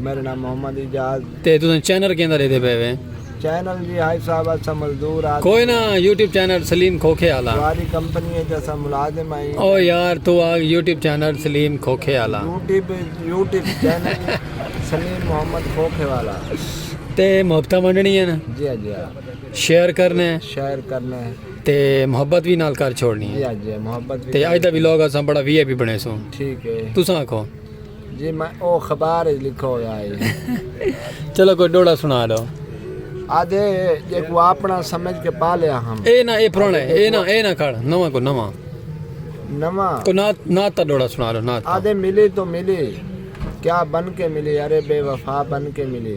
میرے نام محمد اجاز تے تو چینل کیندا رہدے پے وے چینل جی ہائی صاحب اسا مزدور آ کوئی نہ یوٹیوب چینل سلیم کھوکھے والا ساری کمپنی ہے جیسا ملازم آئی او یار تو آ یوٹیوب چینل سلیم کھوکھے والا YouTube YouTube channel Saleem Muhammad Khokhe والا تے محبتہ منڈنی ہے نا جی ہاں، جی ہاں۔ شیئر کرنے شیئر کرنے تے محبت بھی نال کر چھوڑنی ہے جی ہاں، جی ہاں، محبت تے اج دا ویلوگ اساں بڑا وی آئی پی بنے سوں ٹھیک ہے تساں آکھو جی میں او خبار اچ لکھا ہویا ہے۔ چلو کوئی ڈوہڑا سنا ڈو۔ آدھے جیکوں آپنڑاں سمجھ کے پالیا ہم۔ اے نہ اے پرانا ہے۔ اے نہ اے نہ کھڑ نواں کو نواں۔ نواں۔ کوئی نعت نعت دا ڈوہڑا سنا ڈو نعت دا۔ آدھے ملی تو ملی کیا بن کے ملی ارے بے وفا بن کے ملی۔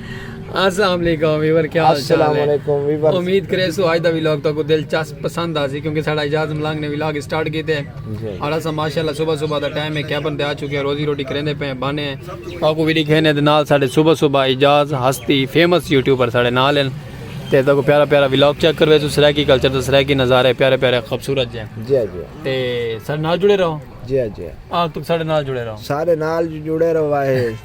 السلام علیکم ویور کیا حال چال ہے السلام علیکم ویور امید کرے سو آج دا ویلاگ تو کو دلچسپ پسند آسی کیونکہ ساڑا اجاز ملانگ نے ویلاگ سٹارٹ کیتے ہیں جی۔ اور اسا ماشاءاللہ صبح صبح دا ٹائم ہے کیبن تے آ چکے ہیں روزی روٹی کریندے پے بانے ہیں تو کو ویڈی کھینے دے نال ساڑے صبح صبح اجاز ہستی فیمس یوٹیوبر ساڑے نال ہیں تے تو کو پیارا پیارا ویلاگ چیک کروے سو سرائیکی کلچر تو سرائیکی نظارے پیارے پیارے خوبصورت جائیں جی جی تے ساڑے نال جڑے رہو جی جی آج تک ساڑے نال جڑے رہو سارے نال جڑے رہو آئے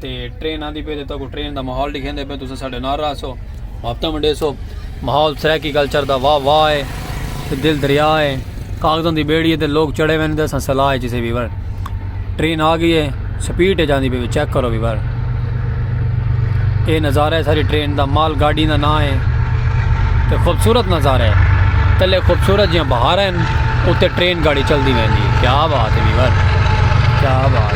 تے ٹرین آندی پی تے تاکو ٹرین دا ماحول ڈکھیندے پے تساں ساڈے نال رہسو محبتاں ونڈیسو ماحول سرائیکی کلچر دا واہ واہ ہے تے دل دریا ہے کاغذاں دی بیڑی ہے تے لوگ چڑھے ویندے اساں سلاح ہے جسے ویور ٹرین آ گئی ہے سپیڈ ہے جاندی پی چیک کرو ویور اے نظارہ ہے ساری ٹرین دا مال گاڑی دا نام ہے تے خوبصورت نظارہ ہے تلے خوبصورت جیاں بہار ہیں اتے ٹرین گاڑی چل دی ویندی کیا بات ہے ویور کیا بات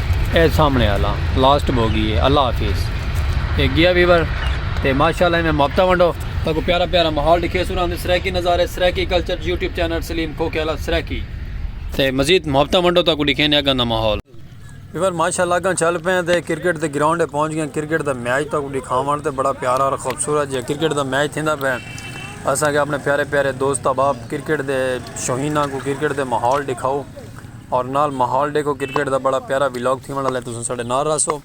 اے سامنے آلا لاسٹ بوگی ہے اللہ حافظ اے گیا ویور تے ماشاءاللہ میں محبتہ ونڈو تاکو پیارا پیارا ماحول دکھے سورا ہم سرائکی نظارے Saraiki culture YouTube channel Saleem کھو کھیلا سرائکی تے مزید محبتہ ونڈو تاکو دکھے نے اگاں دا ماحول ویور ماشاءاللہ اگاں چل پہ ہیں تے کرکٹ دے گراؤنڈ پہنچ گئے ہیں کرکٹ دا میچ تاکو دکھا ونڈ تے بڑا پیارا اور خوبصورت جی کرکٹ دا میچ تھیندہ پہ اساں کہ اپنے پیارے پیارے دوست احباب کرکٹ دے شوہینہ کو کرکٹ دے ماحول دکھاؤ اور نال ماحول ڈیکھو کرکٹ دا بڑا پیارا ولاگ تھی ونڈا لے تو سنسڑے نار راسو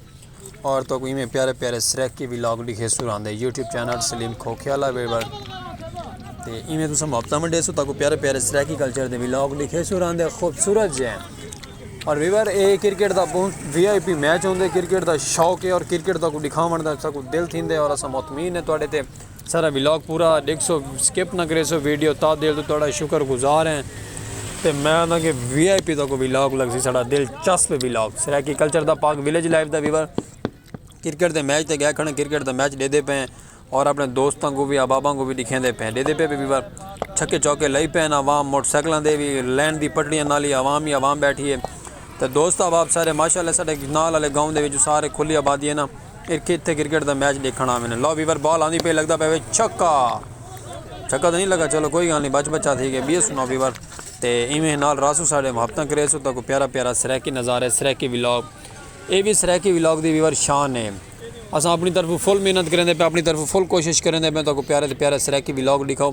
اور تو کوئی میں پیارے پیارے سریک کی ولاگ ڈیکھے سور آندے یوٹیوب چینل سلیم کھوکھے والا ویبر تو ای میں تو سن محبتہ منڈے سو تاکو پیارے پیارے سریکی کلچر دے ولاگ ڈیکھے سور آندے خوبصورت جے اور ویبر اے کرکٹ دا بہت وی آئی پی میچ ہوندے کرکٹ دا شوق ہے اور کرکٹ دا کو ڈکھا منڈا سا کو دل تھی دے اور اسا مطمئن ہے تو آڈے تے سارا ولاگ پورا ڈیکھسو سکپ نہ کریسو ویڈیو تا دل تو تہاڈا شکر گزار ہیں تے میں آنداں کہ وی آئی پی دا کوئی ولاگ لگسی ساڈا دل چسپ ولاگ سرائیکی کلچر دا پاک ولیج لائف دا ویور کرکٹ دے میچ تے گئے کھڑے کرکٹ دا میچ ڈیدے پے ہیں اور اپنے دوستاں کو بھی احباباں کو بھی دکھیں دے پے ہیں ڈیدے پے بھی ویور چھکے چوکے لئی پے ہیں عوام موٹر سائیکلاں دے بھی لین دی پٹڑیاں نال ہی عوام ہی عوام بیٹھی ہے تے دوست احباب سارے ماشاءاللہ ساڈے نال والے گاؤں دے وچ سارے کھلی آبادی ہے نا ہک اتھے کرکٹ دا میچ ڈیکھنڑ آوے نے۔ لو ویور بال آندی پئی لگدا پیا وے چھکا۔ چھکا تاں نی لگا چلو کوئی گالھ نی بچ بچا تھی گئے بی سنو ویور تے ایویں نال راسو ساڈے محبتاں کریس اتھاں کو پیارا پیارا سرائیکی نظارے سرائیکی ولاگ اے وی سرائیکی ولاگ دی ویور شان ہے اساں اپنی طرفوں فل محنت کریندے پے آں اپنی طرفوں فل کوشش کریندے پے آں تہاکوں پیارے تے پیارے سرائیکی ولاگ ڈیکھاؤں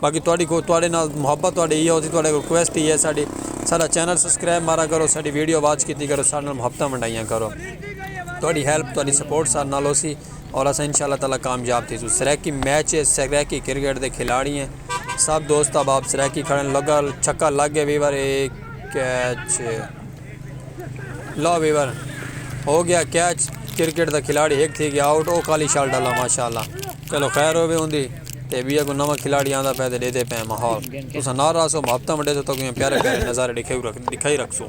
باقی تہاڈی کول تہاڈے نال محبت تہاڈے ایہا ہوسی تہاڈے کول کویسٹ ہی ہے ساڈی ساڈا چینل سبسکرائب مارا کرو ساڈی ویڈیو واچ کیتی کرو ساڈے نال محبتاں ونڈائیاں کرو تہاڈی ہیلپ تہاڈی سپورٹ ساڈے نال ہوسی اور اساں ان شاء اللہ تعالی کامیاب تھیسوں سرائیکی میچ ہے سرائیکی کرکٹ دے کھلاڑی ہیں سب دوست احباب سرائیکی کھڑن لگا چھکا لگ گیا ویور اے کیچ لو وی ور ہو گیا کیچ کرکٹ دا کھلاڑی ہک تھی گیا آؤٹ او کالی شال ڈالا ماشاءاللہ چلو خیر ہوے ہوندی تے وی اگوں نواں کھلاڑی آندا پے تے ڈیدے پے ماحول تساں نال رہسو محبتاں ونڈیسو تاکوں ایویں پیارے پیارے نظارے ڈکھائی ڈکھائی رکھسوں۔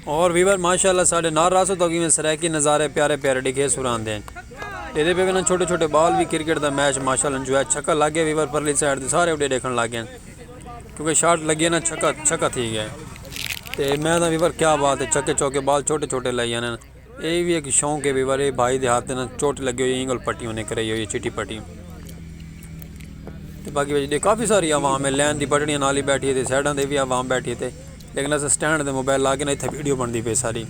اور ویور ماشاءاللہ ساڑھے نار راسو تو گیویں سریکی نظارے پیارے پیارے ڈگھے سوران دیں یہ دے بیوینا چھوٹے چھوٹے بال بھی کرکٹ دا میچ ماشاءاللہ انجو ہے چھکا لگ گیا ویور پرلی سائٹ دے سارے اڈے دیکھن لگ گئے کیونکہ شارٹ لگی ہے نا چھکا چھکا تھی گیا تے میں دا ویور کیا بات ہے چھکے چھوکے بال چھوٹے چھوٹے لائیانے اے وی ہک شوق ہے بھئی والے بھائی دے ہاتھ نال چوٹ لگی ہوئی اینگل پٹی ہونے کرائی ہوئی چٹی پٹی تے باقی وجہ کافی ساری عوام ہے لین دی پٹڑیاں نال ہی بیٹھی تے سائیڈاں دے وی عوام بیٹھی تے لیکن اس سٹینڈ دے موبائل لا کے نہ ایتھے ویڈیو بندی پے ساری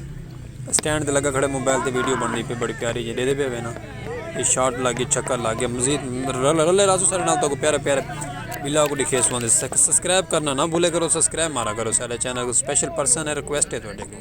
سٹینڈ دے لگا کھڑے موبائل تے ویڈیو بندی پے بڑی پیاری جے دے دے پے وینا یہ شارٹ لگے چکر لگے مزید رلے رلے رازو سارے نال تو کو پیارے پیارے بلا کو دکھے سوان دے سبسکرائب کرنا نہ بھولے کرو سبسکرائب مارا کرو سارے چینل کو سپیشل پرسن ہے ریکویسٹ ہے تو ڈے کو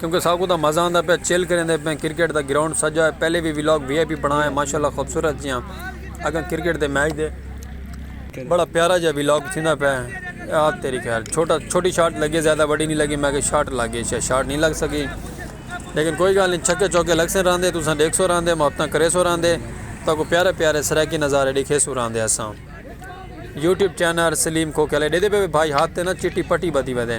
کیونکہ ساکوں تاں مزہ آندا پیا چل کریندے پئیں کرکٹ دا گراؤنڈ سجا ہے پہلے وی ولاگ وی آئی پی بنڑا ہے ماشاءاللہ خوبصورت جیاں اگاں کرکٹ دے میچ دے بڑا پیارا جیاں ولاگ تھیندا پیا ہے آ تیری خیر چھوٹا چھوٹی شاٹ لگی ہے زیادہ وڈی نہیں لگی میں کہ شاٹ لگ گئی شاید شاٹ نہیں لگ سکی لیکن کوئی گال نہیں چھکے چوکے لگ سن راندے تساں ڈیکھ سو راندے محبتاں کرے سو راندے تاں کو پیارے پیارے سرائیکی نظارے ڈیکھے سو راندے اساں یوٹیوب چینل سلیم کھوکھے والے ڈے دے پہ بھائی ہاتھ تے نا چٹی پٹی بدھی ودے